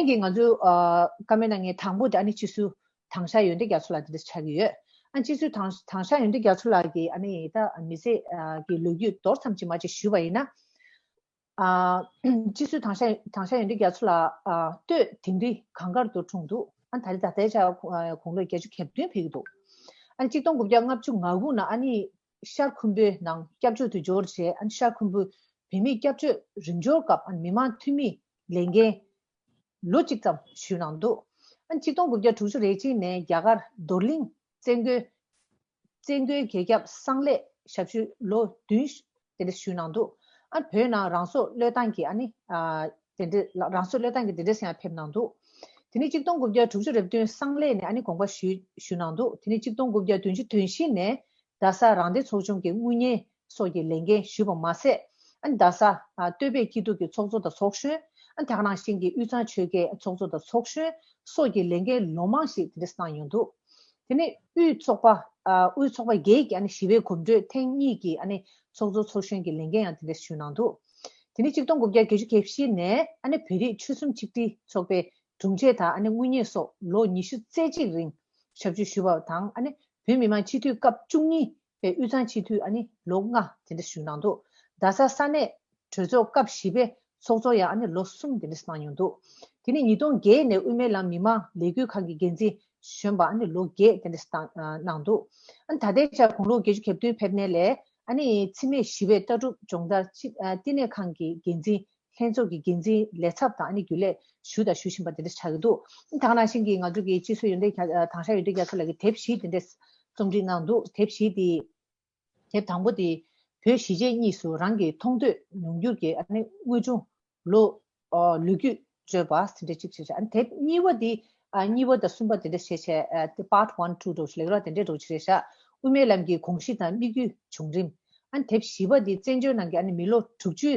ཁྱེད་ཀྱིས་ང་ཚོའི་ཀ་མེད་ན་ངའི་དང་པོ་དེ་ཨ་ནི་སྤྱི་སུ་དང་ཤ་ཡོན་ཏན་རྒྱ་མཚོ་ལགས་འདི་འདྲ་ཆགས་ཀྱི་ཡོད། ཨ་སྤྱི་སུ་དང་དང་ཤ་ཡོན་ཏན་རྒྱ་མཚོ་ལགས་ཀྱིས་ཨ་ནི་ད་མི་ཚེ་ཀྱི་ལོ་རྒྱུས་མདོར་ཙམ་ཅིག་མ་ཅིག་ཞུས་པ་ཡིན་ན། ཨ་སྤྱི་སུ་དང་ཤ་དང་ཤ་ཡོན་ཏན་རྒྱ་མཚོ་ལགས་ལྟོས་དིང་རི་གངས་དཀར་དུ་གྲོངས་འདུག་ཨ་ནི་ད་རེས་ད་ལྟའི་ཆར་དགུང་ལོ་བརྒྱད་ཅུ་གྱ་བདུན་ཕེབས་ཀྱི་འདུག་ཨ་ནི་གཅིག་སྟོང་དགུ་བརྒྱ་ལྔ་བཅུ་ང་དགུ་ནང་ཨ་ནི་ཤར་ཁུམ་བུའི་ནང་སྐྱབས་བཅོལ་དུ་འབྱོར་རྗེས་ཨ་ནི་ཤར་ཁུམ་བུའི་བོད་མིའི་སྐྱབས་བཅོལ་རིམ་འབྱོར་སྐབས་ཨ་ནི་མི་མང་འཐུས་མིའི་ལས་འགན། ལོ་གཅིག་ཙམ་ཞུས་གནང་འདུག་གཅིག་སྟོང་དགུ་བརྒྱ་དྲུག་ཅུ་རེ་གཅིག་ནས་རྒྱ་གར་རྡོར་གླིང་བཙན་རྒོལ་བཙན་རྒོལ་རྒྱལ་ཁྱབ་གསང་ལས་ཞབས་ཞུ་ལོ་བདུན་དེ་འདྲ་ཞུས་གནང་འདུག་བོད་ནང་རང་སྲོག་བློས་བཏང་གིས་ཨ་ནི་དེ་འདྲ་རང་སྲོག་བློས་བཏང་གིས་དེ་འདྲ་སེང་ཡང་ཕེབས་གནང་འདུག་དེ་ནས་གཅིག་སྟོང་དགུ་བརྒྱ་དྲུག་ཅུ་རེ་བདུན་གསང་ལས་ནས་ཨ་ནི་དགོངས་པ་ཞུས་ཞུས་གནང་འདུག་དེ་ནས་གཅིག་སྟོང་དགུ་བརྒྱ་བདུན་ཅུ་དོན་བཞི་ནས་རྡ་སར་རང་སྡེ་ཚོགས་ཆུང་གི་དངུལ་གཉེར་སོགས་ཀྱི་ལས་འགན་ཞུས་པ་མ་ཟད། རྡ་ས། སྟོད་པའི་སྐྱིད་སྡུག་གི་ཚོགས་གཙོ་དང་ཚོགས་གཞོན། དག་སྣང་ཞིང་གི་དབུས་གཙང་ཆོལ་ཁའི་ཚོགས་གཙོ་དང་ཚོགས་གཞོན་སོགས་ཀྱི་ལས་འགན་ལོ་མང་ཞིག་དེ་འདྲས་གནང་མྱོང་འདུག་དེ་ནི་དབུས་ཚོགས་པ། དབུས་ཚོགས་པ་བརྒྱད་ཀྱི་ཞི་བའི་གོམ་བགྲོད་ཐེངས་གཉིས་ཀྱི་ཚོགས་གཙོ་ཚོགས་གཞོན་གྱི་ལས་འགན་ཡང་དེ་འདྲས་ཞུས་གནང་འདུག་དེ་ནི་གཅིག་སྟོང་དགུ་བརྒྱ་བརྒྱད་ཅུ་གྱ་བཞི་ནས་བོད་རིགས་ཆོལ་གསུམ་ཆིག་སྒྲིལ་ཚོགས་པའི་དྲུང་ཆེ་དང་དངུལ་གཉེར་སོགས་ལོ་ཉི་ཤུ་རྩེ་གཅིག་རིང་ཞབས་ཞུ་ཞུས་པ་དང་བོད་མི་མང་སྤྱི་འཐུས་སྐབས་བཅུ་གཉིས་པའི་དབུས་གཙང་སྤྱི་འཐུས་ཨ་ནི་ལོ་ལྔ་དེ་འདྲ་ཞུགས་གནང་འདུག་རྡ་ས་ས་གནས་གྲོས་ཚོགས་སྐབས་བཞི་པའི་ཚོགས་གཙོ་ཡང་ཨ་ནི་ལོ་གསུམ་དེ་འདྲ་གནང་མྱོང་འདུག་དེ་ནས་ཉིས་སྟོང་བརྒྱད་ནས་དབུས་མའི་ལམ་མི་མང་ལས་འགུལ་ཁང་གི་འགན་འཛིན་གཞོན་པ་ཨ་ནི་ལོ་བརྒྱད་དེ་འདྲ་བཏང་གནང་འདུག་ཨ་ནི་ད་ལྟའི་ཆར་དགུང་ལོ་བརྒྱད་ཅུ་གྱ་བདུན་ཕེབས་ནས་ལས་ཨ་ནི་འཚེ་མེད་ཞི་བའི་ལྟ་གྲུབ་སྦྱོང་བརྡར་བསྟི་གནས་ཁང་གི་འགན་འཛིན་ལྷན་ཚོགས་ཀྱི་འགན་འཛིན་ལས་ཚབ་དང་རྒྱུན་ལས་ཞུ་དང་ཞུ་བཞིན་པ་དེ་འདྲ་ཆགས་ཀྱི་འདུག་དང་ནང་བཞིན་གྱི་ང་ཚོ་གི་སྤྱི་སོས་ཡོན་ཏན་དང་ཧྲ་ཡོན་ཏན་རྒྱ་མཚོ་ལགས་ཀྱི་དེབ་བཞི་དེ་འདྲ་རྩོམ་སྒྲིག་གནང་འདུག་དེབ་བཞི་དེའི་དེབ་དང་པོ་དེ་བོད་གཞིས་བྱེས་གཉིས་སུ་རང་གི་མཐོང་ཐོས་མྱོང་འགྱུར་གྱི་དངོས་བྱུང་ལོ་རྒྱུས་རྩོད་པ་དེ་འདྲ་གཅིག་བྱས། དེབ་གཉིས་པ་དེ་གཉིས་པ་དང་གསུམ་པ་དེ་འདྲ་བྱས། Part One Two འགྲོ་བྱེད་ལེགས་ར་དེ་འདྲ་འགྲོ་བྱེད་རེད། དབུ་མའི་ལམ་གྱི་གོང་གཞི་དང་དམིགས་ཡུལ་བྱུང་རིམ། དེབ་བཞི་པ་དེ་བཙན་བྱོལ་ནང་གི་མི་ལོ་དྲུག་ཅུའི་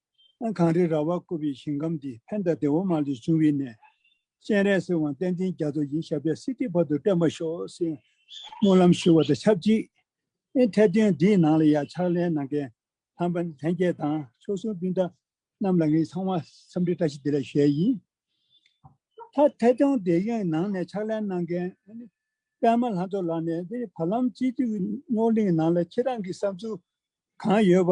ཨ། གངས་རིའི་ར་བར་བསྐོར་བའི་ཞིང་ཁམས་འདི་བྷནྡྷ་ལྡེ་བ་མ་ལས་བྱུང་བས་ནས། སྤྱན་རས་གཟིགས་དབང་བསྟན་འཛིན་རྒྱ་མཚོ་ཡིན་ཞབས་པད་སྲིད་སྟེར་བར་དུ་བསྟན་པར་ཤོག། སྨོན་ལམ་ཞུ་བ་དང་ཆབས་ཅིག་ཨི་འཐད་དོན་འདིའི་ནང་ལ་ཡང་ཕྱག་ལེན་གནང་མཁན་ལྷ་འབངས་ལྷན་རྒྱས་དང་མཆོག་གསུམ་སྤུན་ཟླ་རྣམས་ལ་ངས་ཚང་མ་འཚམས་འདྲི་བཀྲ་ཤིས་བདེ་ལེགས་ཞུ་ཡ་ཡིན། ལྷ་འཐད་དོན་འདི་ཡི་ནང་ནས་ཕྱག་ལེན་གནང་མཁན་པདྨ་ལྷ་མཚོ་ལགས་ནས་འདིར་བར་ལམ་སྤྱི་འཐུས་རྣོ་གླིང་ནང་ལ་ཁྱེད་རང་གི་བསམ་ཚུལ་གང་ཡོད་པ་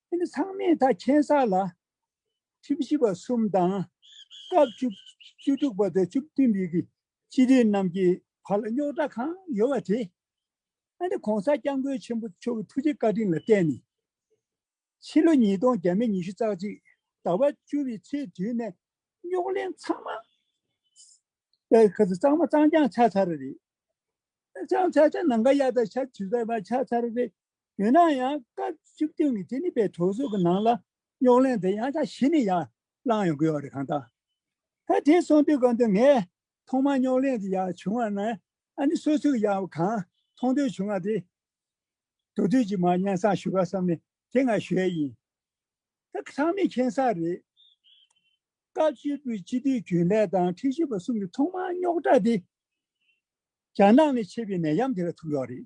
དེ་ནི་ཚང་མས་ད་ཁྱད་བསགས་ལ། ཁྲིམས་བཞི་པ་གསུམ་དང། སྐབས་བཅུ་དྲུག་པ་དང་བཅུ་བདུན་པའི་སྤྱི་འཐུས་རྣམས་ཀྱི་བར་ལ་རྙོག་དྲ་གང་ཡོད་པ་དེ། ཨ་ནི་གོང་ས་སྐྱབས་མགོན་ཆེན་པོ་མཆོག་གི་ཐུགས་རྗེ་བཀའ་དྲིན་ལ་བརྟེན་ནས། ཕྱི་ལོ་ཉིས་སྟོང་བརྒྱད་མེ་ཉི་ཤུ་རྩ་གཅིག་ཟླ་བ་བཅུ་བའི་ཚེས་བདུན་ནས་རྙོག་གླེང་ཚང་མ་གཙང་མ་གཙང་རྐྱང་ཆགས་ཚར་རེད། གཙང་ཆགས་ཆགས་ནང་ཁ་གཡར་ད་ཆ་དུས་རྟགས་མ་ཆགས་ཚར་རེད། ཡིན་ན་ཡང་སྐབས་བཅུ་བདུན་གྱི་དེ་ནི་པའི་གྲོས་ཚོགས་ཀྱི་ནང་ལ་རྙོག་གླེང་དེ་ཡང་བསྐྱར་ཞི་ནས་ཡར་བསླངས་ཡོང་དགོས་པ་རེད་གང་ལྟར། ད་དེ་སོང་དུས་སྐབས་འདིར་ངས་ཐོག་མར་རྙོག་གླེང་དེ་ཡར་བྱུང་བ་ནི་ཨ་ནི་སོ་སོས་ཡང་གང་མཐོང་ཐོས་བྱུང་བ་དེ་དོ་དུས་ཀྱི་མར་སྙན་གསང་ཞུ་ག་བསམ་ནས་དེ་ང་ཞོའི་ཡིན། ད་གི་ཚང་མས་མཁྱེན་གསལ་རེད། སྐབས་བཅུ་པོའི་སྤྱི་འཐུས་རྒྱུན་ལས་དང་ཁྲི་བཞི་པ་གསུམ་གྱི་ཐོག་མར་རྙོག་དྲ་དེ་རྒྱ་ནག་ནས་མཆེད་པའི་ནད་ཡམས་དེ་ལ་ཐུག་ཡོད་རེད།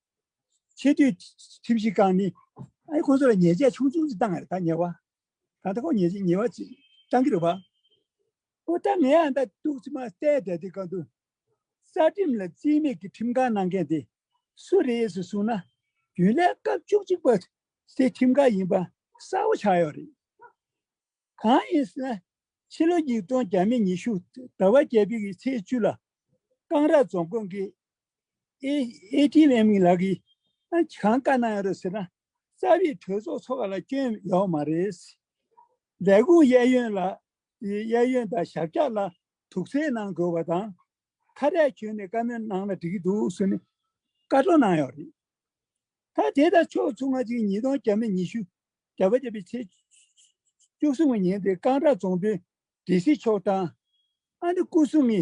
ཆེས་མཐོའི་ཁྲིམས་ཞིབ་ཁང་ནི་ཁོང་ཚོ་ལ་ཉེས་ཆད་ཆུང་ཆུང་ཞིག་བཏང་ཡང་ད་ཉེས་བ་གང་ད་ཁོ་ཉེས་ཆད་ཉེས་བ་ཅིག་བཏང་གི་རེད་བ། ཨོ་ད་ངས་ཨ་ད་ཏུག་ཙི་མ་བལྟས་བསྡད་དེ་གང་འདུག་རྩ་ཁྲིམས་ལ་རྩིས་མེད་ཀྱི་ཁྲིམས་ཁང་གནང་མཁན་དེ་སུ་རེད་ཟེར་གསུངས་ན་རྒྱུན་ལས་སྐབས་བཅུ་གཅིག་པ་སའི་ཁྲིམས་ཁང་ཡིན་པ་གསལ་བོ་ཆགས་ཡོད་རེད། གང་ཡིན་ཟེར་ན་ཕྱི་ལོ་ཉིས་སྟོང་གྱ་མེད་ཉི་ཤུ་ཟླ་བ་བརྒྱད་པའི་ཚེས་བཅུ་ལ་ཀང་ར་རྫོང་དགོན་གྱི ATM གི་ལག་གིས་གང་བཀའ་གནང་ཡོད་རེད་ཟེར་ན། རྩ་བའི་གྲོས་ཚོགས་ཚོགས་པ་ལ་སྐྱོན་ཡོད་མ་རེད། ལས་ཁུངས་གཡས་གཡོན་ལ་གཡས་གཡོན་དང་ཞབས་བཀྱག་ལ་དུག་རྩལ་གནང་དགོས་པ་དང། ཁ་རས་གྱོན་ནས་བཀའ་མོལ་གནང་ན་འགྲིག་གི་འདུག་ཟེར་ནས་བཀའ་བཀྲོལ་གནང་ཡོད་རེད། ད་དེ་ལྟར་ཕྱོགས་མཚུངས་སྔ་ཕྱི་ཉིས་སྟོང་གྱ་མེད་ཉི་ཤུ་གྱ་བརྒྱད་པའི་ཚེས་བཅུ་གསུམ་གྱི་ཉིན་དེ་ཀང་ར་རྫོང་དོན་སྒྲིལ་སྲིད་ཕྱོགས་དང། ཨ་ནེ་སྐུ་སྲུང་གི་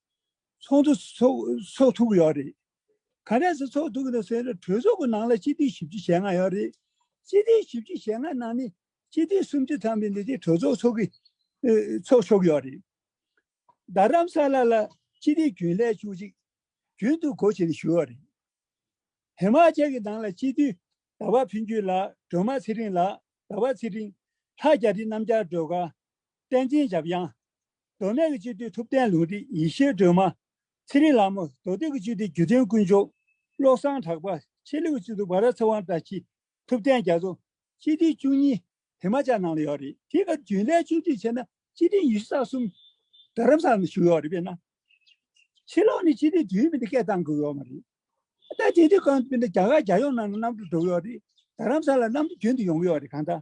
ཚོགས་འདུ་ཚོགས་ཐུབ་ཀྱི་ཡོད་རེད། ག་རེ་ཟེར་ཚོགས་ཐུབ་ཀྱི་འདུག་ཟེར་ན་གྲོས་ཚོགས་ཀྱི་ནང་ལ་སྤྱི་འཐུས་བཞི་བཅུ་ཞེ་ལྔ་ཡོད་རེད། སྤྱི་འཐུས་བཞི་བཅུ་ཞེ་ལྔ་ནང་ནས་སྤྱི་འཐུས་སུམ་ཅུ་ཐམ་པའི་འདི་དེ་གྲོས་ཚོགས་ཚོགས་ཀྱི་ཚོགས་ཆོག་གི་ཡོད་རེད། རྡ་རམ་ས་ལ་ལ་སྤྱི་འཐུས་རྒྱུན་ལས་བཅུ་གཅིག་རྒྱུན་དུ་གོ་བྱེད་ནས་ཞུགས་ཡོད་རེད། ཧི་མ་ཅལ་གྱི་ནང་ལ་སྤྱི་འཐུས་ཟླ་བ་ཕུན་སྐྱིད་ལགས་སྒྲོལ་མ་ཚེ་རིང་ལགས་ཟླ་བ་ཚེ་རིང། ལྷ་རྒྱ་རི་རྣམ་རྒྱལ་སྒྲོལ་དཀར། བསྟན་འཛིན་འཇམ་དབྱངས། མདོ་སྨད་ཀྱི་སྤྱི་འཐུས་ཐུབ་བསྟན་ལུང་རིགས་ཡེ་ཤེས་སྒྲོལ་མ། ཚེ་རིང་ལགས་མོ་མདོ་སྟོད་ཀྱི་སྤྱི་འཐུས་སྒྱུ་རྩལ་དཀོན་མཆོག། བློ་བཟང་གྲགས་པ། ཕྱི་ལུགས་སྤྱི་འཐུས་འབའ་ར་ཚེ་དབང་བཀྲ་ཤིས། ཐུབ་བསྟན་རྒྱ་མཚོ། སྤྱི་འཐུས་བཅུ་གཉིས། དེ་མ་ཅག་ནང་ལ་ཡོད་རེད། དེའི་སྐབས་རྒྱུན་ལས་བཅུ་གཅིག་བྱས་ན་སྤྱི་འཐུས་ཉི་ཤུ་རྩ་གསུམ། རྡ་རམ་ས་ལ་ནས་ཞུགས་ཡོད་རེད་པས་ན། ཕྱི་ལོགས་ནས་སྤྱི་འཐུས་དུས་ཡུན་མི་འདི་སྐད་བཏང་དགོས་ཡོད་མ་རེད། ད་ལྟ་དེ་དུས་སྐབས་དེ་འདྲ་རྒྱ་གར་རྒྱལ་ཡོངས་ནང་ལ་གནམ་གྲུ་འགྲོ་གི་ཡོད་རེད། རྡ་རམ་ས་ལ་གནམ་གྲུ་རྒྱུན་དུ་ཡོང་གི་ཡོད་རེད་གང་ལྟར།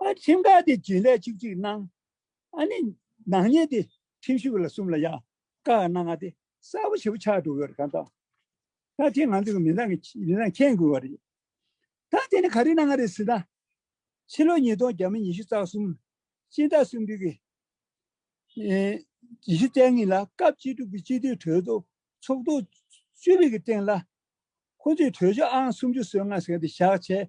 ཨ་ཁྲིམས་ཁ་དེ་རྒྱུན་ལས་བཅུ་གཅིག་གནང། ཨ་ནི་ནག་ཉེས་དེ་ཁྲིམས་ཞུགས་ལ་གསུམ་ལ་ཡ། ཀ་ཨ་ནག་ང་དེ་གསར་བ་བྱེད་པོ་ཆགས་འགྲོ་གི་རེད་གང་ལྟ། ད་དེ་ང་ཚོ་གི་མི་དང་གི་མི་དང་མཁྱེན་དགོས་བ་རེད། ད་དེ་ནི་ག་རེ་གནང་ང་རེད་ཟེར་ན། ཕྱི་ལོ་ཉིས་སྟོང་བརྒྱ་མ་ཉི་ཤུ་རྩ་གསུམ་སྤྱི་ཟླ་གསུམ་དུས་ཀྱི་ཉི་ཤུ་རྩ་གཉིས་ལ་སྐབས་བཅུ་དྲུག་པའི་སྤྱི་འཐུས་གྲོས་ཚོགས་ཚོགས་ཐོག་བཅུ་བྷེ་ཀྱི་སྟེང་ལ། ཁོང་ཚོས་གྲོས་ཆོད་ཨང་སུམ་ཅུ་སོ་ལྔ་ཟེར་ང་དེ་བཞག་བྱས་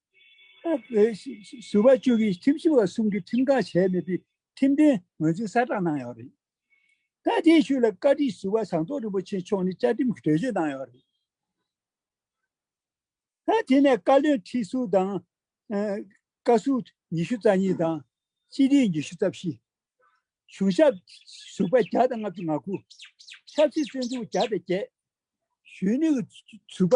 ཟུར་པ་བཅུ་གིས་ཁྲིམས་ཞིབ་བ་གསུམ་གྱིས་ཁྲིམས་ཁང་བྱས་མེད་པའི་ཁྲིམས་དོན་ངོས་འཛིན་གསལ་བསྒྲགས་གནང་ཡོད་རེད། སྐད་འཕྲིན་ཤུལ་ལ་བཀའ་ཁྲི་ཟུར་པ་ཟངས་མདོག་རིན་པོ་ཆེ་མཆོག་ནས་བཅའ་ཁྲིམས་ཀྱི་གྲོས་ཆོད་གནང་ཡོད་རེད། དེ་ནས་བཀའ་བློན་ཁྲི་ཟུར་དང། བཀའ་ཟུར་ཉི་ཤུ་རྩ་གཉིས་དང། སྤྱི་འཐུས་ཉི་ཤུ་རྩ་བཞི། གཞུང་ཞབས་ཟུར་པ་བརྒྱ་དང་ལྔ་བཅུ་ང་དགུ། ཆབ་སྲིད་བཙོན་ཟུར་བརྒྱ་དང་བརྒྱད། གཞོན་ནུའི་ཟུར་པ་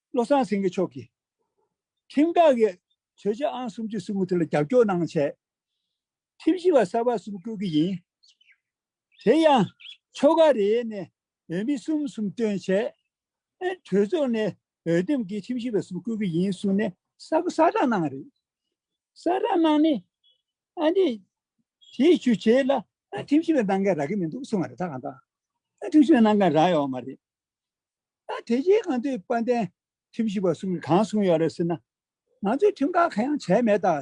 བློ་བཟང་སེང་གེ་མཆོག་གིས། ཁྲིམས་བསྒྲགས་ཀྱི་གྲོས་ཆོད་ཨང་སུམ་ཅུ་སུམ་ཅུ་དེ་ལ་རྒྱབ་སྐྱོར་གནང་ཆེད། ཁྲིམས་ཞིབ་པ་གསར་པ་གསུམ་བསྐོས་ཀྱི་ཡིན། དེ་ཡང་ཆོལ་ཁ་རེའི་ནས་འོས་མི་གསུམ་གསུམ་བཏོན་ཆེད། གྲོས་ཚོགས་ནས་འོས་འདེམས་ཀྱིས་ཁྲིམས་ཞིབ་པ་གསུམ་བསྐོས་ཀྱི་ཡིན་གསུངས་ནས་གསར་བསྐོ་གསར་བསྒྲགས་གནང་བ་རེད། གསར་བསྒྲགས་གནང་ནས། དེའི་བྱུས་བྱས་ལ་ཁྲིམས་ཞིབ་པའི་ནང་འགལ་རག་གི་མི་འདུག་གསུངས་བ་རེད་ད་གང་ལྟར་ཁྲིམས་ཞིབ་པའི་ནང་འགལ་རག་ཡོད་མ་རེད། ད་དེ་བཞིན་གང་འདོད་དཔལ་ལྡན་ཁྲིམས་ཞིབ་པ་གསུམ་གྱིས་གང་གསུངས་ཡོད་རེད་ཟེར་ན། ང་ཚོས་ཁྲིམས་ཁང་གང་ཡང་བྱས་མེད་ད།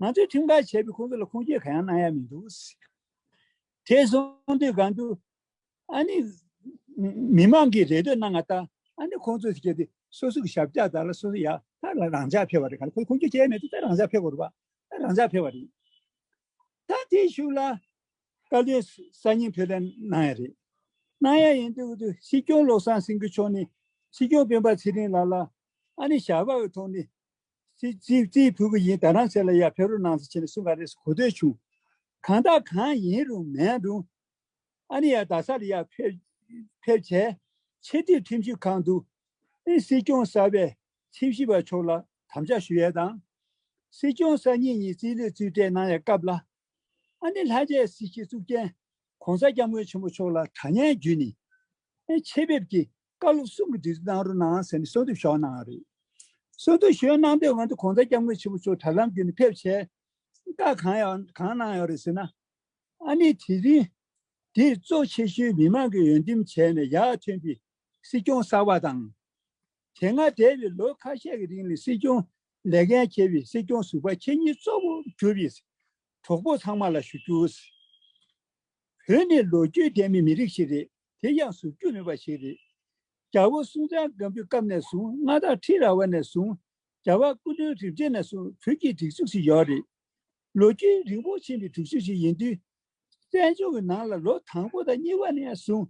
ང་ཚོས་ཁྲིམས་ཁང་བྱས་པས་ཁོང་ཚོ་ལ་ཁུངས་སྐྱེལ་གང་ཡང་གནང་ཡ་མི་འདུག་ཟེར། དེ་གསུངས་དུས་གང་འདུག། ཨ་ནི། མི་མང་གིས་རེ་འདོད་གནང་ང་ད། ཨ་ནི་ཁོང་ཚོས་བྱས་ཏེ་སོ་སོ་གི་ཞབས་བཅག་དག་ལ་སོ་སོ་ཡ་ད་ལ་རང་འཇགས་ཕེབས་པ་རེད་ག་ལ་ཁོས་ཁུངས་སྐྱེལ་བྱས་མེད་དུ་ད་རང་འཇགས་ཕེབས་པ་རུ་བ། རང་འཇགས་ཕེབས་པ་རེད། ད་དེ་ཞུ་ལ། བཀའ་བློན་གསར་རྙིང་ཕེབས་ལེན་གནང་ཡ་རེད། གནང་ཡ་ཡིན་དུས་སྲིད་སྐྱོང་བློ་བཟང་སེང་གེ་མཆོག་ནས་སྲིད་སྐྱོང་སྤེན་པ་ཚེ་རིང་ལགས་ལ། ཨ་ནི་ཞགས་པ་འི་ཐོག་ནས་རྩིས་ཕུལ་གི་ཡིན་ད་རང་ཚེ་ལ་ཡར་ཕེབས་རོགས་གནང་ཟེར་ཆེ་ནས་གསུང་ག་རེ་གོ་ཐོས་བྱུང། གང་དག་གང་ཡིན་རུང་མེད་རུང། ཨ་ནི་ཡར་རྡ་ས་ལ་ཡར་ཕེབས་བྱས། ཕྱི་དྲིལ་ཁྲིམས་ཞིབ་ཁང་དུ། ཨི་སྲིད་སྐྱོང་གསར་པའི་ཁྲིམས་ཞིབ་པ་མཆོག་ལ་དམ་བཅའ་ཞུ་ཡ་དང། སྲིད་སྐྱོང་གསར་རྙིང་གཉིས་རྩིས་ལོས་རྩིས་སྤྲད་གནང་ཡ་སྐབས་ལ། ཨ་ནེ་ལྷ་རྗེའི་སྲིད་ཞིའི་གཙུག་རྒྱན ྋགོང་ས་སྐྱབས་མགོན་ཆེན་པོ་མཆོག་ལ་གྲ་སྙན་བརྒྱུད་ནས། ཆེད་ཕེབས་ཀྱིས་བཀའ་སློབ་གསུམ་གྱི་དུས་ཚོད་གནང་རོགས་གནང་ཟེར་ནས་གསོལ་འདེབས་ཞུ་བ་གནང་བ་རེད། གསོལ་འདེབས་ཞུ་ཡོན་གནང་དོན་འོན་ཏེ ྋགོང་ས་སྐྱབས་མགོན་ཆེན་པོ་མཆོག་དྲ་ལམ་བརྒྱུད་ནས་ཕེབས་ཆེད་བཀའ་གང་ཡང་གང་གནང་ཡོད་རེད་ཟེར་ན། ཨ་ནེ་དེ་རིང་འདིར་གཙོ་ཆེ་ཤོས་མི་མང་གིས་འོས་འདེམས་བྱས་ནས་ཡར་ཐོན་པའི་སྲིད་སྐྱོང་གསར་བ་དང། དེ་སྔ་འདས་པའི་ལོ་ཁ་ཤས་ཀྱི་རིང་ལ་སྲིད་སྐྱོང་ལས་འགན་འཁྱེར་བའི་སྲིད་སྐྱོང་ཟུར་པ་ཁྱེད་གཉིས་གཙོ་བོ་གྱུར་བའི་གྲོགས་པོ་ཚང་མ་ལ་ཞུ་རྒྱུ། བོད་ནི་ལོ་རྒྱུས་ལྡན་མི་མི་རིགས་ཤིག་རེད་དེ་ཡང་ཟུར་རྒྱུ་མེད་པ་ཞིག་རེད། རྒྱ་བོད་སུན་ཙན་སྒམ་པོའི་སྐབས་ནས་བཟུང་མངའ་བདག་ཁྲི་ར་བ་ནས་བཟུང་རྒྱ་བ་སྐུ་མདུན་རིན་པྲེ་ནས་བཟུང་བོད་ཀྱི་སྒྲིག་འཛུགས་ཤིག་ཡོད་རེད། ལོ་རྒྱུས་རིང་པོ་ཕྱིན་པའི་སྒྲིག་འཛུགས་ཤིག་ཡིན་དུས། བཙན་བྱོལ་གྱི་ནང་ལ་ལོ་དང་པོ་དང་གཉིས་པ་ནས་བཟུང།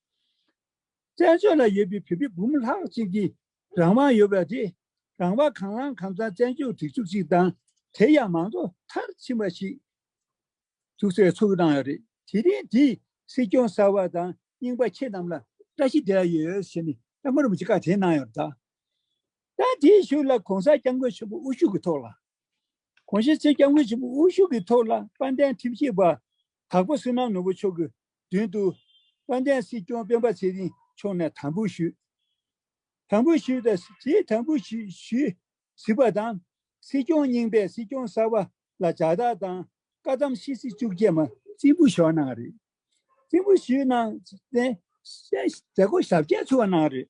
བཙན་བྱོལ་ལ་ཡོད་པའི་བོད་པའི་འབུམ་ལྷག་ཅིག་གིས་རང་དབང་ཡོད་པ་དེ་རང་དབང་གང་བླང་གང་བཙན་བཙན་བྱོལ་སྒྲིག་འཛུགས་ཅིག་དང་དེ་ཡང་མང་གཙོ་མཐར་ཕྱིན་པ་ཞིག་འཛུགས་སའི་ཚོགས་གནང་ཡོད་རེད་དེ་རིང་འདིས་སྲིད་སྐྱོང་གསར་བ་དང་རྙིང་པ་ཁྱེད་རྣམས་ལ་བཀྲ་ཤིས་བདེ་ལགས་ཡོད་ཟེར་ནས་ལྷ་མོ་རིན་པོ་ཆེ་བཀའ་དེ་གནང་ཡོད་རེད་ད། ད་དེའི་ཤུགས་ལ་གོང་ས་སྐྱབས་མགོན་ཆེན་པོ་དབུ་བཞུགས་ཀྱི་ཐོག་ལ། གོང་ཞེ་ཚེ་སྐྱབས་མགོན་ཆེན་པོ་དབུ་བཞུགས་ཀྱི་ཐོག་ལ་དཔལ་ལྡན་ཁྲིམས་ཞིབ་པ་དྭགས་པོ་སེར་ནག་ནོར་བུ་མཆོག་གི་མདུན་དུ། དཔལ་ལྡན་སྲིད་སྐྱོང་སྤེན་པ་ཚེ་རིང་མཆོག་ནས་དམ་འབུལ་ཞུས། དམ་འབུལ་ཞུས་ཏེ་ཞེས་དམ་འབུལ་ཞུས་ཟིན་པ་དང། སྲིད་སྐྱོང་རྙིང་པས་སྲིད་སྐྱོང་གསར་བ་ལ་ལྗགས་རྟགས་དང་བཀའ་གདམས་ཤིས་ཚིག་བཅུ་བརྒྱད་མ། རྩིས་འབུལ་ཞུས་གནང་བ་རེད། རྩིས་འབུལ་ཞུས་གནང་རྟེན་མཛད་སྒོ་ཞབས་རྗེས་ཚུགས་པ་གནང་བ་རེད།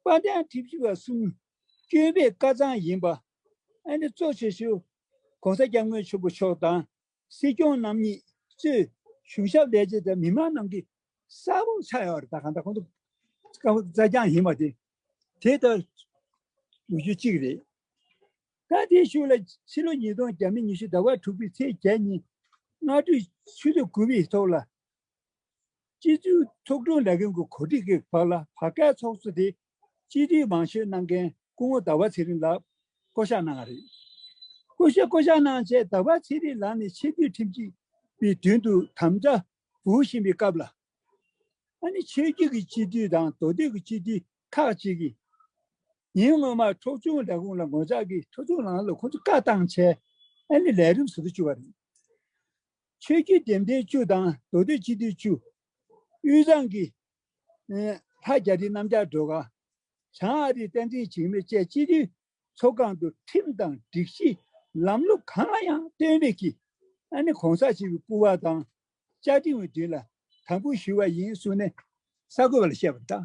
དཔལ་ལྡན་ཁྲི་བཞི་པ་གསུམ་བསྐྱོད་པའི་བཀའ་གཙང་ཡིན་པ། ཨ་ནེ་གཙོ་བྱས་ཤོག་གོང་ས་སྐྱབས་མགོན་ཆེན་པོ་མཆོག་དང། སྲིད་སྐྱོང་རྣམ་གཉིས་གཙོས་གཞུང་ཞབས་ལས་བྱེད་དང་མི་མང་རྣམས་ཀྱིས་གསལ་བོར་ཆགས་ཡོད་རེད་ད་གང་ལྟར་ཁོང་ཚོ་སྐབས་བཙལ་རྐྱང་ཡིན་པ་དེ་དེ་ལྟར་འདུག་རྒྱུ་གཅིག་རེད། ད་དེ་ཞུ་ལ་ཕྱི་ལོ་ཉིས་སྟོང་གྱ་མི་ཉི་ཤུ་ཟླ་བ་དྲུག་པའི་ཚེས་བརྒྱད་ཉིན་སྔ་དྲོའི་ཆུ་ཚོད་དགུ་པའི་ཐོག་ལ། སྤྱི་འཐུས་ཚོགས་དྲུང་ལས་ཁང་གི་གོ་སྒྲིག་གི་བར་ལ་བར་བསྐལ་ཚོགས་གཙོ་དེ་སྤྱི་འཐུས་མང་ཤོས་གནང་མཁན་སྐུ་ངོ་ཟླ་བ་ཚེ་རིང་ལགས་བསྐོ་གཞག་གནང་བ་རེད། སྐུ་ཞབས་བསྐོ་གཞག་གནང་རྗེས་ཟླ་བ་ཚེ་རིང་ལགས་ནས་ཆེས་མཐོའི་ཁྲིམས་སྤྱི་པའི་མདུན་དུ་དམ་བཅའ་བུ་བཞིན་པའི་སྐབས་ལ། ཨ་ནི་ཆོས་བརྒྱུད་ཀྱི་སྤྱི་འཐུས་དང་མདོ་སྟོད་ཀྱི་སྤྱི་འཐུས་ཁག་ཅིག་གིས། ཉིན་སྔོན་མར་ཚོགས་ཆུང་ལས་ཁུངས་ལ་ངོ་ཅག་གིས་ཚོགས་ཆུང་ནང་ལ་ཁོང་ཚོ་བཀའ་བཏང་ཆེད་ཨ་ནི་ལས་རིམ་ཟུར་དུ་བཅུག་པ་རེད། ཆོས་བརྒྱུད་འདེམས་ཐོན་བཅུ་དང་མདོ་སྟོད་སྤྱི་འཐུས་བཅུ། དབུས་གཙང་གི་ལྷ་རྒྱ་རི་གནམ་ལྕགས་སྒྲོལ་དཀར། བྱང་ཨ་རིའི་བསྟན་འཛིན་འཇིགས་མེད་བཅས་སྤྱི་འཐུས་ཚོགས་ཁང་དུ་ཁྲིམས་དང་སྒྲིག་གཞི་ལམ་ལུགས་གང་ལ་ཡང་བརྟེན་རིགས་ཀྱི ྋགོང་ས་ཞེས་པའི་སྐུ་བ་དང་བཅའ་ཁྲིམས་འོས་བསྡུ་ལ་དམ་འབུལ་ཞུས་པ་ཡིན་གསུངས་ནས་གསར་འགོད་པ་ལ་བཤད་པ་དང།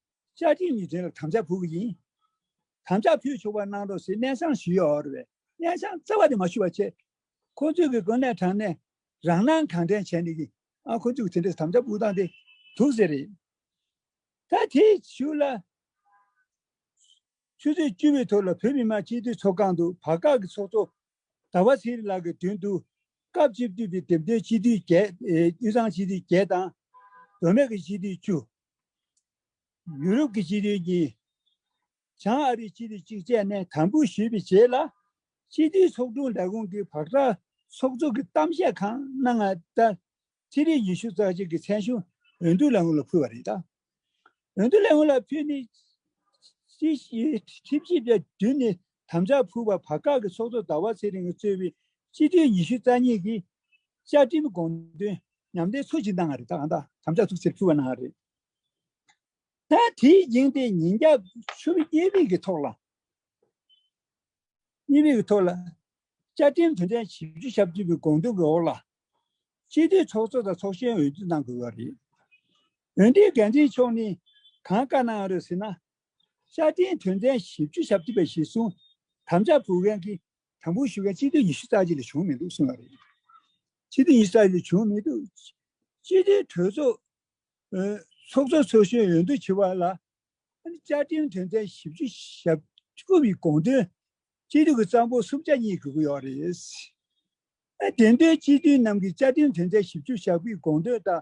བཅའ་ཁྲིམས་ནི་དེ་ལ་དམ་བཅའ་ཕུལ་བ་ཡིན། དམ་བཅའ་ཕུལ་ཆོག་པར་གནང་རོགས་ཞེས་གནས་ཆང་ཞུས་ཡོད་པས་གནས་ཆང་བཙལ་བ་དེ་མ་ཞུ་བར་ཆད། ཁོ་ཚོས་གི་དགོན་གནས་དྲངས་ནས་རང་སྣང་གང་དྲན་བྱས་ནས་ཀྱི་ཨང་ཁོ་ཚོས་གི་དེ་འདྲས་དམ་བཅའ་ཕུལ་སྟངས་དེ་དུག་ཟེར་རེད། ད་དེ་ཞུ་ལ། ཆུ་ཚོད་བཅུ་བའི་ཐོག་ལ་བོད་མི་མང་སྤྱི་འཐུས་ཚོགས་ཁང་དུ་བར་བཀག་གི་ཚོགས་གཙོ་ཟླ་བ་ཚེ་རིང་ལགས་ཀྱི་དྲུང་དུ་སྐབས་བཅུ་བདུན་པའི་དེབ་སྟོན་སྤྱི་འཐུས་བརྒྱད། དབུས་གཙང་སྤྱི་འཐུས་བརྒྱད་དང། བུད་མེད་ཀྱི་སྤྱི་འཐུས་བཅུ། ཡུ་རོབ་ཀྱི་སྤྱི་འཐུས་གཉིས། བྱང་ཨ་རིའི་སྤྱི་འཐུས་གཅིག་བཅས་ནས་དམ་འབུལ་ཞུས་པའི་རྗེས་ལ། སྤྱི་འཐུས་ཚོགས་དྲུང་ལས་ཁུངས་ཀྱི་བག་གྲངས་ཚོགས་གཙོ་གི་གཏམ་བཤད་ཁང་གནང་སྔ་ལྟར། ཚེ་རིང་ཉི་ཤུ་རྩ་གཅིག་གི་མཚན་གཞུང་འོས་བསྡུ་ལས་ཁུངས་ལ་ཕུལ་བ་རེད། འོས་བསྡུ་ལས་ཁུངས་ལ་ཕུལ་ནས། ཁྲིམས་ཞིབ་པའི་མདུན་ནས་དམ་བཅའ་ཕུལ་བར་བར་བཀག་གི་ཚོགས་གཙོ་ཟླ་བ་ཚེ་རིང་གཙོས་པའི་སྤྱི་འཐུས་ཉི་ཤུ་རྩ་གཉིས་ཀྱིས། བཅའ་ཁྲིམས་དགོངས་དོན་ཉམས་ལེན་ཚུལ་བཞིན་གནང་བ་རེད། དམ་བཅའ་ཐུགས་བརྩེར་ཕུལ་བ་གནང་བ་རེད། དེའི་རྐྱེན་དེ་ཉིན་རྒྱབ་ཆུ་བོ་གཉིས་པའི་གི་ཐོག་ལ། གཉིས་པའི་གི་ཐོག་ལ། བཅའ་ཁྲིམས་དོན་ཚན་བཞི་བཅུ་ཞབས་བཅུ་པའི་དགོངས་དོན་གྱི་འོག་ལ། སྤྱི་འཐུས་ཚོགས་གཙོ་དང་ཚོགས་གཞོན་འོས་བསྡུ་གནང་དགོས་པ་རེད། འོན་ཏེ་འགན་འཛིན་མཆོག་ནས་གང་བཀའ་གནང་ཡོད་རེད་ཟེར་ན་ཤར་སྐྲན་དོན་ཚན་བཞི་བཅུ་ཞབས་བཅུ་པའི་གཞིར་བཟུང་དམ་བཅའ་བུ་རན་གྱིས་དམ་འབུལ་ཞུ་མཁན་སྤྱི་འཐུས་ཉི་ཤུ་རྩ་གཅིག་ལས་བྱུང་མི་འདུག་གསུངས་པ་རེད། སྤྱི་འཐུས་ཉི་ཤུ་རྩ་གཅིག་ལས་བྱུང་མི་འདུག་སྤྱི་འཐུས་གྲོས་ཚོགས། ཚོགས་གཙོ་ཚོགས་གཞོན་འོས་བསྡུ་བྱེད་པ་ལ། བཅའ་ཁྲིམས་དོན་ཚན་བཞི་བཅུ་ཞབས་བཅུ་པའི་དགོངས་དོན། སྤྱི་འཐུས་ཀྱི་རྩ་འབོར་གསུམ་ཆ་གཉིས་དགོས་ཀྱི་ཡོད་རེད། དེ་འདོད་སྤྱི་འཐུས་རྣམས་ཀྱིས་བཅའ་ཁྲིམས་དོན་ཚན་བཞི་བཅུ་ཞབས་པའི་དགོངས་དོན་དང་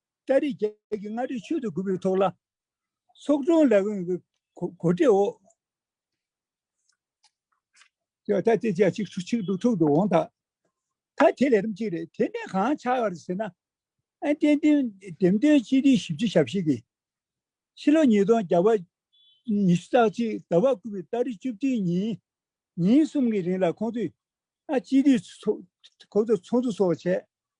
ཏཱ་རེ་རྒྱལ་གྱི་མངའ་ཁྲི་ཆོས་དུ་གུ་པའི་ཐོག་ལ་ཚོགས་དྲུང་ལས་ཁུངས་ཀྱི་གོ་སྒྲིག་འོག་ད་ལྟ་དེ་རྒྱལ་སྤྱིའི་ཆིག་སྒྲིལ་ཐོག་ཏུ་འོང་ཐག་ད་དེ་ལས་རིམ་གཅིག་རེད། དེ་ནས་གང་ཆགས་ཡོད་རེད་ཟེར་ན། ཨན་ཏན་ཏིང་འགྲེམས་སྟོན་གཅིག་སྒྲིལ་ཞིབ་ཕྱི་ཞབས་ཞུ་གིས་ཕྱི་ལོ་ཉིས་སྟོང་བརྒྱ་པ་ཉི་ཤུ་རྩ་གཅིག་ཟླ་བ་དགུ་པའི་ཏཱ་རེ་བཅུ་བདུན་ཉིན་ཉིན་གསུམ་གྱི་རིང་ལ་ཁོང་ཚོས་ཨ་སྤྱི་སྡེའི་ཚོགས་གཙོ་སོགས་བྱས།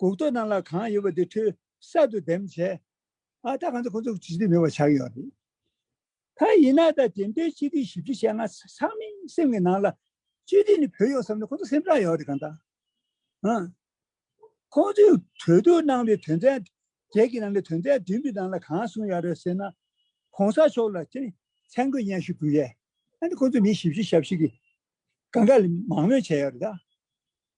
གུག་རྡོ་རྣམས་ལ་གང་ཡོད་པ་དེ་འཕྲུལ་གསར་དུ་འདེམས་བྱས། ཨ་ད་གང་དུ་ཁོ་ཚོ་ཇི་སྟེ་མེད་པ་ཆགས་ཡོད་རེད། ད་ཡིན་ན་ད་དེ་འདྲའི་སྤྱི་ཏིའི་ཞིབ་འབྲི་བྱས་ང་ཚང་མི་སེམས་ཀྱི་ནང་ལ་སྤྱི་ཏི་ནི་བུད་ཡོང་བསམ་ནས་ཁོ་ཚོ་སེམས་ཁྲག་ཡོད་རེད་གང་ལྟར་ཨང། ཁོ་ཚོས་གྲོས་བསྡུར་གནང་བའི་དོན་ཚན་བརྒྱད་ཀྱི་ནང་གི་དོན་ཚན་བདུན་པའི་ནང་ལ་གང་གསུངས་ཡག་རེད་ཟེར་ན་གོང་ས་མཆོག་ལ་ཅི་མཚན་སྐུ་བརྙན་ཞིག་འབུལ་ཡས་ཨ་ནི་ཁོ་ཚོས་མི་ཞིབ་བཤེར་ཞབས་ཞུ་གི་དགའ་དགའ་ལས་མང་མོས་བྱས་ཡོད་རེད་ད།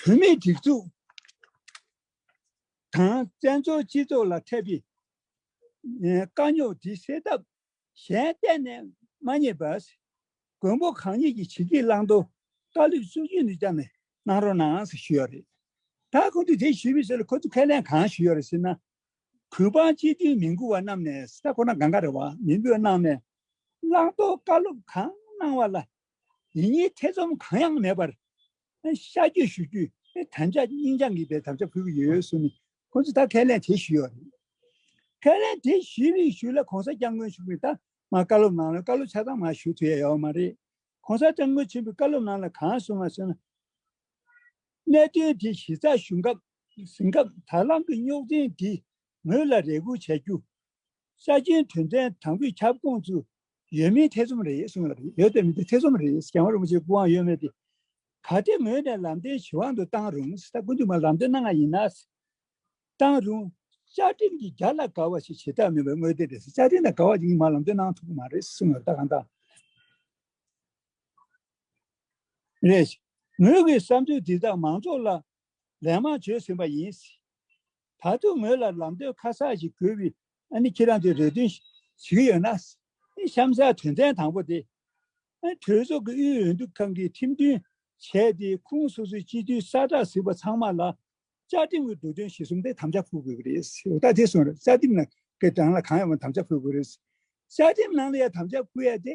བུད་མེད་སྒྲིག་འཛུགས་དང་བཙན་བྱོལ་སྤྱི་ཚོགས་ལ་འཕྲད་པའི་དཀའ་རྙོག་དེ་སེལ་ཐབས་གཞན་གཏན་ནས་མ་རྙེད་པས། མགོན་པོ་གང་ཉིད་ཀྱིས་ཕྱི་དཀྱིལ་བླང་དོར་བཀའ་སློབ་བསུ་རྒྱུ་ནི་ཅང་མི་གནང་རོགས་གནང་ཞུས་ཡོད་རེད། ད་ཁོང་ཚོས་དེ་ཞུས་པའི་ཚེ་ལ་ཁོ་ཚོས་ཁས་ལེན་གང་ཞུས་ཡོད་རེད་ཟེར་ན། གུས་པ་སྤྱི་མཐུན་མི་མགུ་བ་རྣམས་ནས་ས་ཁོ་ན་ག་འགའ་རེ་བ་མི་འབོད་གནང་ནས། བླང་དོར་བཀའ་སློབ་གང་གནང་བ་ལ་ཡིད་གཉིས་ཐེ་ཚོམ་གང་ཡང་མེད་པར་ཤ་རྒྱུད་ཞུ་རྒྱུ་དམ་བཅའ་སྙིང་བཅངས་གི་པའི་དམ་བཅའ་ཕུལ་གི་ཡོད་ཟུར་ནས་ཁོང་ཚོས་ད་ཁས་ལེན་དེ་ཞུས་ཡོད་རེད། ཁས་ལེན་དེ་ཞུས་མི་ཞུས་ལ་གོང་ས་སྐྱབས་མགོན་ཆེན་པོས་ད་མར་བཀའ་སློབ་གནང་ལ་བཀའ་སློབ་ཆ་ཚང་མར་ཞུ་ཐུབ་ཡ་ཡོད་མ་རེད། གོང་ས་སྐྱབས་མགོན་ཆེན་པོས་བཀའ་སློབ་གནང་ལ་གང་གསུངས་བ་ཟེར་ན། གནད་དོན་དེ་གཞི་རྩར་ཞུ་སྐབས་ཟིན་སྐབས་དར་ལམ་གྱི་རྙོག་འཛིང་དེ་ངོས་ལ་རེ་སྒུག་བྱ་རྒྱུ། ཤ་རྒྱུན་དོན་ཚན་དང་པོའི་ཁྱབ་ཁོངས་སུ་ཡོད་མིན་ཐེ་ཚོམ་རེད་གསུངས་ཡོད་ཡོད་དེ་མི་འདུག་ཐེ་ཚོམ་རེད་རྒྱལ་བ་རིན་པོ་ཆེའི་སྐུ་དབང་ཡོད་མེད་དེ། ག་དེ་ངོས་ནས་ལམ་སྟོན་ཇི་དབང་དུ་བཏང་རུང་ད་སྐུ་མདུན་མ་ལམ་སྟོན་གནང་ང་ཡིན་ན། བཏང་རུང། བཅའ་ཁྲིམས་ཀྱི་རྒྱ་ལ་དགའ་བ་ཞིག་བྱེད་ཐབས་མེད་པའི་དངོས་དེ་རེད་བཅའ་ཁྲིམས་ལ་དགའ་བ་ཞིག་གིས་མ་ལམ་སྟོན་གནང་ཐུབ་ཀྱི་མ་རེད་གསུངས་ཡོད་ད་གང་ལྟར། རེད། ངོས་ཀྱི་བསམ་ཚུལ་འདི་དག་མང་ཚོགས་ལ་ལན་མང་བྱོས་ཟིན་པ་ཡིན་སྲིད། ད་དུང་ངོས་ལ་ལམ་སྟོན་ཁ་གསག་ཞིག་དགོས་བི་ཨ་ནི་ཁྱེད་རང་ཚོས་རེ་འདུན་ཞིག་ཡོད་ན། གཤམ་གསལ་དོན་ཚན་དང་པོ་དེ། གྲོས་ཚོགས་ཀྱི་དབུས་འོས་འདུ་ཁང་གིས་ཁྲིམས་མཐུན་བྱས་ཏེ་ཁུངས་སོ་སོའི་སྤྱི་འཐུས་གསར་བསྒྲགས་ཟིན་པ་ཚང་མ་ལ། བཅའ་ཁྲིམས་ཀྱི་འདོད་དོན་གཞི་གསུམ་དེ་དམ་བཅའ་ཕུལ་དགོས་ཀྱི་རེད་སྲིད། འོ་ད་དེ་སོང་རེད་བཅའ་ཁྲིམས་ནང་གི་རང་ལ་གང་ཡོད་མ་དམ་བཅའ་ཕུལ་དགོས་རེད་སྲིད། བཅའ་ཁྲིམས་ནང་ལ་ཡང་དམ་བཅའ་ཕུལ་ཡ་དེ།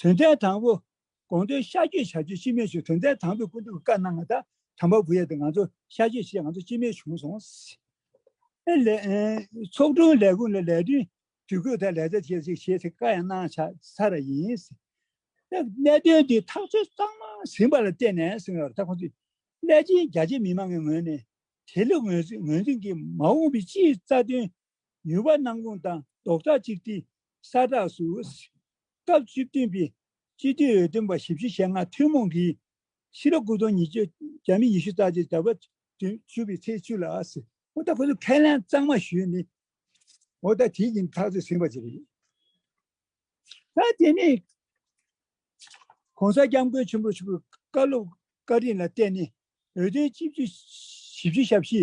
དོན་ཚན་དང་པོ། དགོངས་དོན་གཤགས་བཅོས་བྱ་རྒྱུ་སྤྱི་མེད་བྱུང་དོན་ཚན་དང་པོའི་སྐུ་མདུན་གྱི་བཀའ་གནང་ད་དམ་པ་བུ་ཡ་དེ་ང་ཚོ་གཤགས་བཅོས་བྱས་ང་ཚོ་སྤྱི་མེད་བྱུང་སོང། ཚོགས་དྲུང་ལས་ཁུངས་ལ་ལས་དོན་དུས་འགོད་ལྟར་ལས་བྱ་བྱེད་ཅིག་བྱེད་ཚེ་བཀའ་ཡང་གནང་ཆ་ཚ་ར་ཡིན། གནད་དོན་འདི་ཐག་གཅོད་གཙང་མ་ཟིན་པ་ལ་བརྟེན་ནས་གསུངས་ཡོད་རེད་ད་ཁོང་ཚོས་སླད་ཕྱིན་རྒྱ་ཆེ་མི་མང་གི་ངོས་ནས་དེ་ལུགས་ངོས་འཛིན་གྱིས་མ་འོངས་པའི་སྤྱིའི་རྩ་དོན་མྱུར་བར་སྣང་ཁུངས་དང་རྡོག་ཁྲ་གཅིག་སྒྲིལ་ས་གྲགས་སུ། སྐབས་བཅུ་བདུན་པའི་སྤྱི་འཐུས་འོས་བསྡུ་པ་བཞི་བཅུ་ཞེ་ལྔ་ཐུན་མོང་གིས། ཕྱི་ལོ་སྐུ་སྟོང་ཉིས་བརྒྱ་རྒྱ་མི་ཉི་ཤུ་རྩ་གཅིག་དར་བ་དུས་བཅུ་པའི་ཚེས་བཅུ་ལ། ཨོ་ད་ཁོ་ཚོས་ཁས་ལེན་གཙང་མ་ཞུས་ནས། ཨོ་ད་དེ་ཡིན་ཐག་ཆོད་ཟིན་པ་ཅིག་རེད། ད་དེ་ནས ྋགོང་ས ྋསྐྱབས་མགོན་ཆེན་པོར་ཕྱུག་པོའི་བཀའ་སློབ་བཀའ་དྲིན་ལ་བརྟེན་ནས་འོས་བསྡུའི་སྤྱི་འཐུས་བཞི་བཅུ་ཞབས་ཕྱི་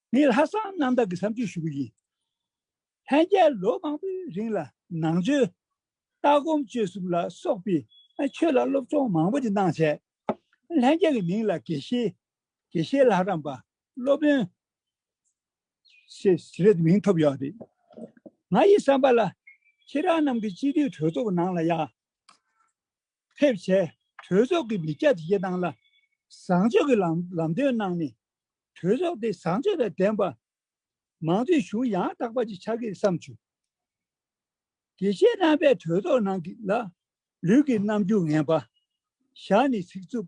ངས་ལྷག་བསམ་རྣམ་དག་གི་བསམ་ཚུལ་ཞུ་གི་ཡིན། ལྷན་རྒྱས་ལོ་མང་པོའི་རིང་ལ་ནང་ཆོས། ལྟ་སྒོམ་སྤྱོད་གསུམ་ལ་སོགས་པའི་ཆོས་ལ་སློབ་སྦྱོང་མང་པོ་ཅིག་གནང་བྱས། ལྷན་རྒྱས་ཀྱི་མིང་ལ་དགེ་བཤེས། དགེ་བཤེས་ལྷ་རམས་པ། སློབ་དཔོན། ཞེས་རེད་མིང་ཐོབ་ཡོད་རེད། ང་ཡི་བསམ་པ་ལ། ཁྱེད་རང་རྣམས་ཀྱི་སྤྱི་འཐུས་གྲོས་ཚོགས་ནང་ལ་ཡང། ཕེབས་བྱས་གྲོས་ཚོགས་ཀྱི་མི་སྐྱ་དེ་བཞི་དང་ལ་བཟང་ཕྱོགས་ཀྱི་ལམ་ལམ་སྟོན་གནང་ནས་གྲོས་ཚོགས་དེ་བཟང་ཕྱོགས་དང་ལྡན་པ། མང་གཙོའི་གཞུང་ཡང་དག་པ་ཅིག་ཆགས་ཀྱི་བསམ་ཚུལ་དེ་བཞེས་གནང་པས་གྲོས་ཚོགས་ནང་གི་ལ་ལུས་ཀྱི་རྣམ་འགྱུར་ངན་པ་བཞག་ནས་ཚིག་རྩུབ་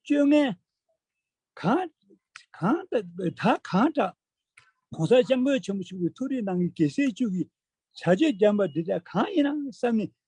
སྤྱོད་ངན་གང་གང་དག་གང་དྲག་གོང་ས་སྐྱབས་མགོན་ཆེན་པོ་ཞུ་བའི་ཐུགས་རེ་གནང་གི་གེ་སེལ་བཅུ་གྱི་བྱ་སྤྱོད་རྐྱང་པ་འདི་དག་གང་ཡིན་ནམ་བསམ་ནས་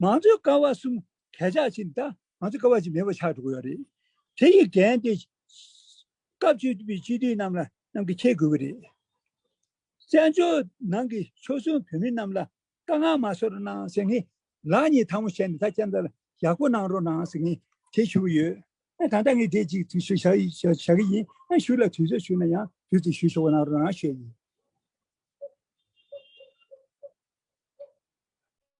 ང་ཚོའི་སྐལ་བ་གསུམ་གས་ཆག་ཕྱིན་ད་ང་ཚོའི་སྐལ་བ་གཅིག་མེད་པ་ཆགས་འགྲོ་གི་ཡོད་རེད། དེ་ཡི་འགན་དེ་སྐབས་བཅུ་པའི་སྤྱི་འཐུས་རྣམས་ལ་རྣམས་ཀྱིས་འཁྱེར་དགོས་ཀྱི་རེད། བཙན་བྱོལ་ནང་གི་ཆོལ་གསུམ་བོད་མི་རྣམས་ལ་དཀའ་ངལ་མ་བཟོ་རོགས་གནང་ཟེར་ངེས་ལགས་གཉིས་ཐང་མོ་བྱས་ནས་ད་ལྕེ་མདའ་ལ་ཡག་པོ་གནང་རོགས་གནང་ཟེར་ངེས་དེ་ཞུ་གི་ཡོད། ད་ལྟ་ངས་དེ་གཅིག་ཞུ་ཞུ་བྱ་གི་ཡིན་ཨ་ཞུ་ལ་དུས་ཚོད་ཞུ་ན་ཡང་དུས་ཚོད་ཞུ་ཞོག་གནང་རོགས་གནང་ཞུ་ཡ་ཡིན།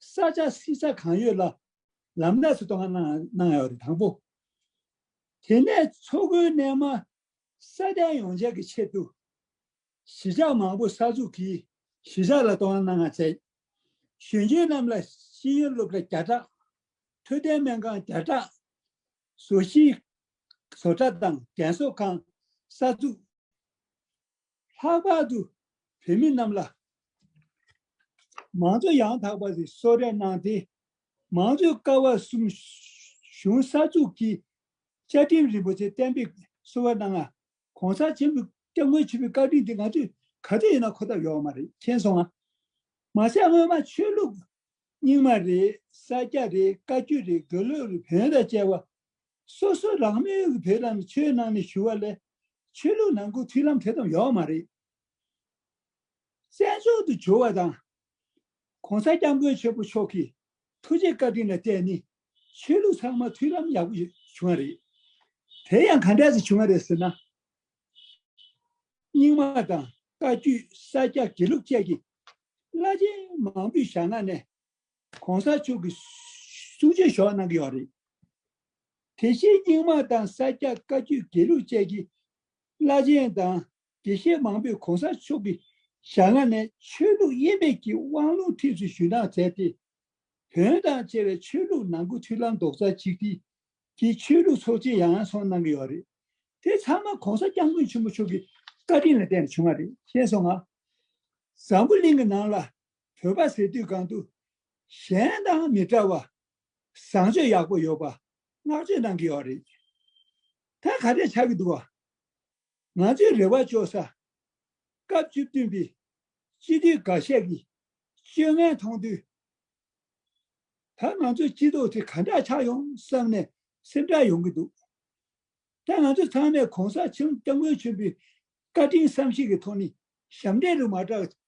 ས་ཆ་བསྲི་ས་གང་ཡོད་ལ་ལམ་སྣ་སུ་གཏོང་ང་གནང་ཡོད་རེད་དང་པོ། དེ་ནས་མཚོ་ཁུལ་རྣལ་མ་ས་གདན་ཡོངས་བྱེད་ཀྱི་ཆེད་དུ། གཞིས་ཆགས་མང་པོ་གསར་འཛུགས་ཀྱིས་གཞིས་ཆགས་ལ་གཏོང་ང་གནང་ང་བྱས། གཞོན་སྐྱེས་རྣམས་ལ་ཤེས་ཡོན་སློབ་གྲྭ་བརྒྱ་ཕྲག། འཕྲོད་བསྟེན་སྨན་ཁང་བརྒྱ་ཕྲག། བཟོ་གཞིས་བཟོ་གྲྭ་དང་རྒན་གསོ་ཁང་གསར་འཛུགས། ལྷག་པར་དུ་བོད་མི་རྣམས་ལ། མང་གཙོ་ཡང་དག་པ་ཞིག་གསོལ་རས་གནང་སྟེ། མང་གཙོའི་ཀ་བ་གསུམ་གཞུང་གསར་འཛུགས་ཀྱི་བཅའ་ཁྲིམས་རིན་པོ་ཆེ་གཏན་འབེབས་གསོལ་བ་གནང། གོང་ས་ཆེན་པོའི་སྐྱབས་མགོན་ཆེན་པོའི་བཀའ་དྲིན་དེ་ང་ཚོས་ག་དུས་ཡིན་ན་འཁོར་ཐབས་ཡོད་པ་མ་རེད་མཁྱེན་སོང་ང། མ་ཟད་སྔོན་མ་ཆོས་ལུགས་རྙིང་མ་རེད་ས་སྐྱ་རེད་བཀའ་བརྒྱུད་རེད་དགེ་ལུགས་རེད་བོན་དང་བཅས་པ་སོ་སོ་རང་མོས་ཀྱི་བོད་ལ་ནི་ཆོས་གནང་ནས་ཞུ་བ་ལས། ཆོས་ལུགས་ནང་ཁུལ་མཐུན་ལམ་དེ་ཙམ་ཡོག་མ་རེད། བཙན་བྱོལ་དུ་འབྱོར་བ་དང། ྋགོང་ས ྋསྐྱབས་མགོན་ཆེན་པོ་མཆོག་གི་ཐུགས་རྗེ་བཀའ་དྲིན་ལ་བརྟེན་ནས་ཆོས་ལུགས་ཚང་མ་མཐུན་ལམ་ཡག་པོ་བྱུང་བ་རེད། དེ་ཡང་ག་འདྲ་ཚེ་བྱུང་བ་རེད་ཟེར་ན། རྙིང་མ་དང་བཀའ་བརྒྱུད་ས་སྐྱ་དགེ་ལུགས་བཅས་ཀྱི་བླ་ཆེན་མང་པོས་ཞྭ་སྣ་ནས་གོང་ས་མཆོག་གི་གསུང་བརྗོད་ཞོར་གནང་གི་ཡོད་རེད། དེ་བཞིན་རྙིང་མ་དང་ས་སྐྱ་བཀའ་བརྒྱུད་དགེ་ལུགས་བཅས་ཀྱི་བླ་ཆེན་དང་དགེ་བཤེས་མང་པོས་གོང་ས་མཆོག་གི་ཞལ་སྔ་ནས་ཆོས་ལུགས་དབྱེ་མེད་ཀྱི་དབང་ལུང་ཁྲིད་ཚུལ་ཞུས་གནང་མཛད་དེ། བོན་དང་བཅས་པའི་ཆོས་ལུགས་ནང་གི་མཐུན་ལམ་རྡོག་རྩ་གཅིག་སྒྲིལ་གྱི་ཆོས་ལུགས་ཚོགས་ཆེན་ཡང་ཡང་ཚོགས་གནང་གི་ཡོད་རེད། དེ་ཚང་མ་གོང་ས་སྐྱབས་མགོན་ཆེན་པོ་མཆོག་གི་བཀའ་དྲིན་ལ་བརྟེན་ནས་བྱུང་བ་རེད་བཤད་སོང་ང། བཟང་པོ་གླིང་གི་ནང་ལ་བོད་པ་ཟེར་དུས་གང་དུ། གཞན་དང་མི་འདྲ་བ། བཟང་སྤྱོད་ཡག་པོ་ཡོད་པ། བསྔགས་བརྗོད་གནང་གི་ཡོད་རེད། ད་ག་རེ་ཆགས་ཀྱི་འདུག་བ། ང་ཚོའི་རེ་བ་བཅོལ་ས། སྐབས་བཅུ་བདུན་པའི། སྤྱི་འཐུས་འགའ་ཤས་ཀྱི། སྤྱོད་ངན་མཐོང་དུས། ད་ང་ཚོའི་སྤྱི་ཚོགས་དེ་ག་འདྲ་ཆགས་ཡོང་བསམ་ནས་སེམས་ཁྲལ་ཡོང་གི་འདུག། ད་ང་ཚོ་ཚང་མས་གོང་ས་ཆེན་སྐྱབས་མགོན་ཆེན་པོའི་བཀའ་དྲིན་བསམ་ཤེས་ཀྱི་ཐོག་ནས་ཞབས་འདྲེན་རུ་མ་བསྒྲགས